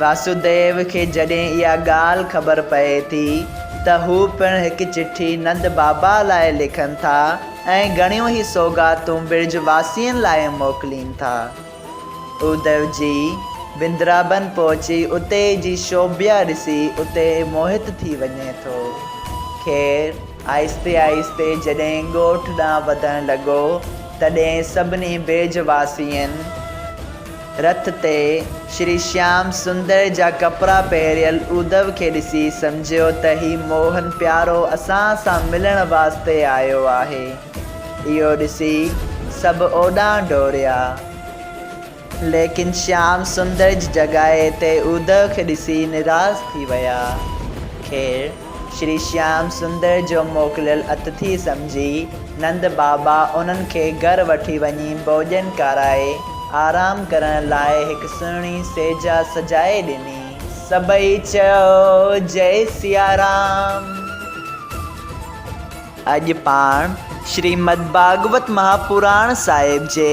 واسوديو کي جڏهن اها ڳالهه خبر پئي ٿي ته هو پڻ هڪ چٺي نند بابا لاء لکن ٿا ۽ گهڻيون ئي سوغاتون برج واسين لاء موڪلين ٿا. اوديو جي بندرابن پهچي اتي جي شوڀيا ڏسي اتي موهت ٿي وڃي ٿو. خير آهستي آهستي جڏهن ڳوٺ ڏانهن وڌڻ لڳو تڏهن سڀني برج واسين، رٿ تي شري شيام سندر جا ڪپڙا پهريل اودو کي ڏسي سمجهيو ته هي موهن پيارو اسان سان ملڻ واسطي آيو آهي. اهو ڏسي سڀ اوڏانهن ڊوڙيا. ليڪن شيام سندر جي جڳائي تي اودو کي ڏسي نراس ٿي ويا. خير! شري شيام سندر جو موڪليل اتٿي سمجهي، نند بابا انهن کي گهر وٺي وڃي ڀوڄن کارائي، آرام ڪرڻ لاء هڪ سهڻي سيجهه سجائي ڏني. سڀئي چيو، جئي سيارام! اڄ پاڻ شريمد ڀاڳوت مهاپراڻ صاحب جي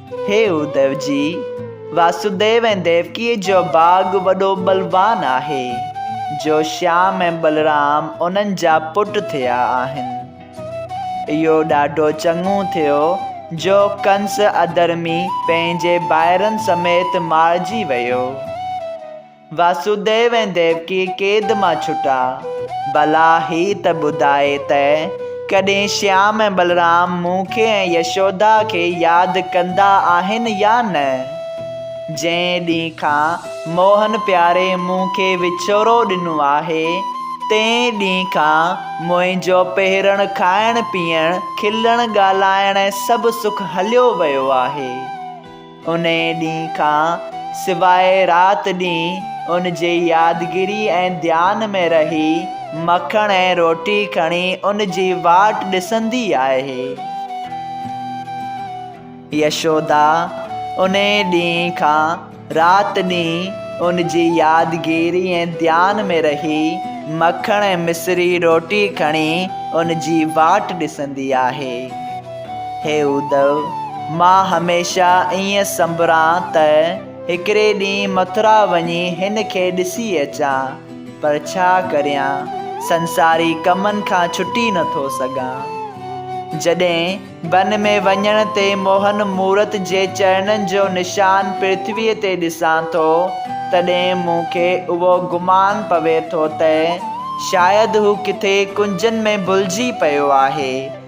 هي اڌو جي، واسوديو ۽ ديوڪيء جو باغ وڏو بلوان آهي، جو شيام ۽ بلرام انهن جا پٽ ٿيا آهن. اهو ڏاڍو چڱو ٿيو جو ڪنس اڌرمي پنهنجي ڀائرن سميت مارجي ويو. واسوديو ۽ ديوڪي قيد مان ڇٽا. ڀلا هي ته ٻڌاء ته ڪڏهن شيام ۽ بلرام مون کي ۽ يشودا کي ياد ڪندا آهن يا نه؟ جنهن ڏينهن کان موهن پياري مون کي وڇوڙو ڏنو آهي، تنهن ڏينهن کان منهنجو پهرڻ، کائڻ پيئڻ، کلڻ ڳالهائڻ ۽ سڀ سک هليو ويو آهي. انهيء ڏينهن کان سواء رات ڏينهن ان جي يادگيري ۽ ڌيان ۾ رهي، مکڻ ۽ روٽي کڻي ان جي واٽ ڏسندي آهي. يشودا انهيء ڏينهن کان رات ڏينهن ان جي يادگيري ۽ ڌيان ۾ رهي، مکڻ ۽ مصري روٽي کڻي ان جي واٽ ڏسندي آهي. هي اڌو! مان هميشه ائين سنبران ته هڪڙي ڏينهن مٿرا وڃي هن کي ڏسي اچان، پر ڇا ڪريان، سنساري ڪمن کان ڇٽي نه ٿو سگهان. جڏهن بن ۾ وڃڻ تي موهن مورت جي چرڻن جو نشان پرٿويء تي ڏسان ٿو، تڏهن مون کي اهو گمان پوي ٿو ته شايد هو ڪٿي ڪنجن ۾ ڀلجي پيو آهي.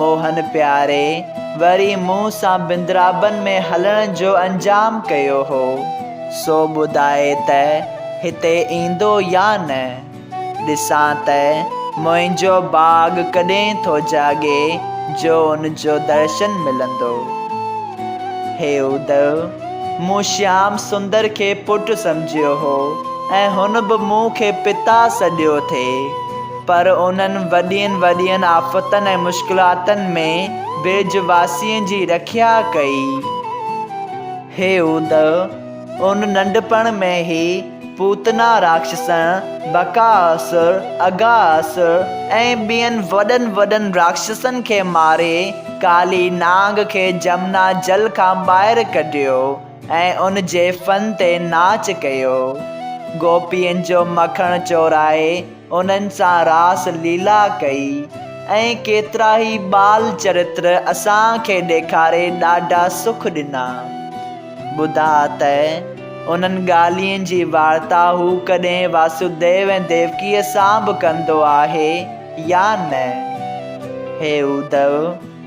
موهن پياري وري مون سان بندرابن ۾ هلڻ جو انجام ڪيو هو، سو ٻڌائي ته هتي ايندو يا نه؟ ڏسان ته منهنجو باغ ڪڏهن ٿو جاڳي جو ان جو درشن ملندو. هي ادو! مون شيام سندر کي پٽ سمجهيو هو ۽ هن به مون کي پتا سڏيو ٿي. پر انهن وڏين وڏين آفتن ۽ مشڪلاتن ۾ برج واسين جي رکيا ڪئي. هيود ان ننڍپڻ ۾ ئي پوتنا راڪشسن، بڪااسر، اگااسر ۽ ٻين وڏن وڏن راڪشسن کي ماري ڪالي نانگ کي جمنا جل کان ٻاهر ڪڍيو ۽ ان جي فن تي ناچ ڪيو. گوپين جو مکڻ چورائي انهن سان راس ليلا ڪئي ۽ ڪيترائي ٻال چرتر اسان کي ڏيکاري ڏاڍا سک ڏنا. ٻڌاء ته انهن ڳالهين جي وارتا هو ڪڏهن واسوديو ۽ ديوڪيء سان به ڪندو آهي يا نه؟ هي اودو!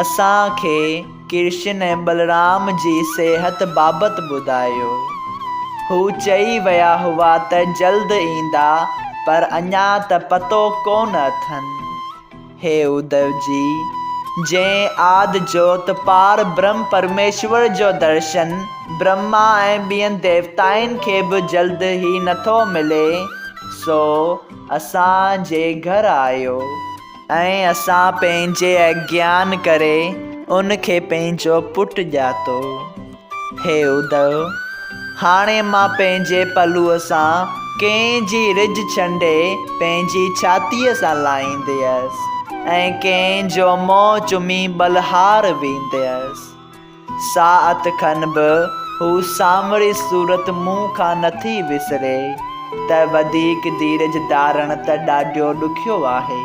اسان کي ڪرشن ۽ بلرام جي صحت بابت ٻڌايو. هو چئي ويا هئا ته جلد ايندا پر اڃا ته پتو ڪونه اٿن. هي اديو جي، جنهن آد جوت پار برهم پرميشور جو درشن برهما ۽ ٻين ديوتائن کي به جلد هي نٿو ملي، سو اسان جي گهر آيو. ۽ اسان پنهنجي اگيان ڪري ان کي پنهنجو پٽ ڄاتو. هي ادهو! هاڻي مان پنهنجي پلوء سان ڪنهن جي رج ڇنڊي پنهنجي ڇاتيء سان لائينديس، ۽ ڪنهن جو منهن چمي ٻلهار وينديس. ساعت کن به هو سانوري صورت مون کان نٿي وسري ته وڌيڪ ڌيرج ڌارڻ ته ڏاڍيو ڏکيو آهي.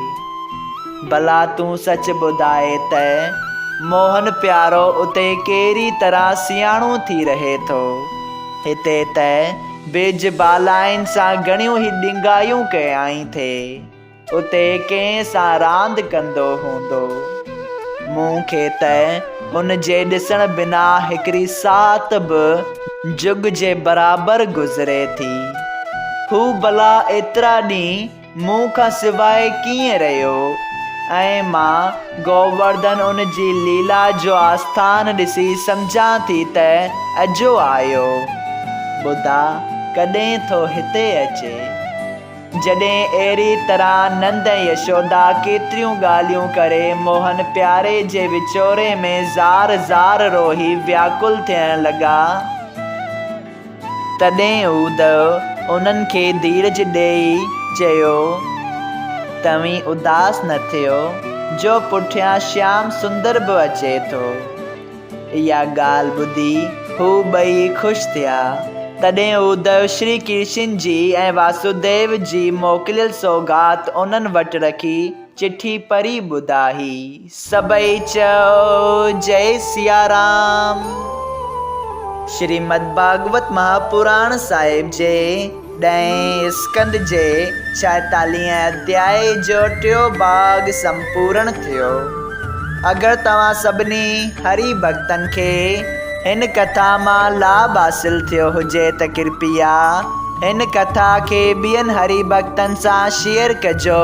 ڀلا تون سچ ٻڌاء ته موهن پيارو اتي ڪهڙي طرح سياڻو ٿي رهي ٿو. هتي ته بيج بالائن سان گهڻيون ئي ڏنگايون ڪيائين ٿي. اتي ڪنهن سان راند ڪندو هوندو. مون کي ته هن جي ڏسڻ بنا هڪڙي ساعت به جڳ جي برابر گذري ٿي. هو ڀلا ايترا ڏينهن مون کان سواء ڪيئن رهيو ۽ مان گوورڌن ان جي ليلا جو آسٿان ڏسي سمجهان ٿي ته اجهو آيو. ٻڌا ڪڏهن ٿو هتي اچي. جڏهن اهڙي طرح نند ۽ يشودا ڪيتريون ڳالهيون ڪري موهن پياري جي وڇوڙي ۾ زار زار روئي وياڪل ٿيڻ لڳا، تڏهن اودهو انهن کي ڌيرج ڏيئي چيو، توهين اداس نه ٿيو، جو پٺيان شيام سندر به اچي ٿو. اها ڳالهه ٻڌي هو ٻئي خوش ٿيا. تڏهن اودئو شري ڪرشن جي ۽ واسوديو جي موڪليل سوغات انهن وٽ رکي چٺي پڙهي ٻڌائي. سڀئي چيو جئي سيارام. شريمد ڀاڳوت مهاپراڻ صاحب جي ڏهين اسڪند جي ڇاهيتاليهين اڌياء جو ٽيون ڀاڳ سمپورڻ ٿيو. اگر توهان سڀني هري ڀڳتن کي هن ڪٿا مان لاڀ حاصل ٿيو هجي ته ڪرپيا هن ڪٿا کي ٻين هري ڀڳتن سان شيئر ڪجو.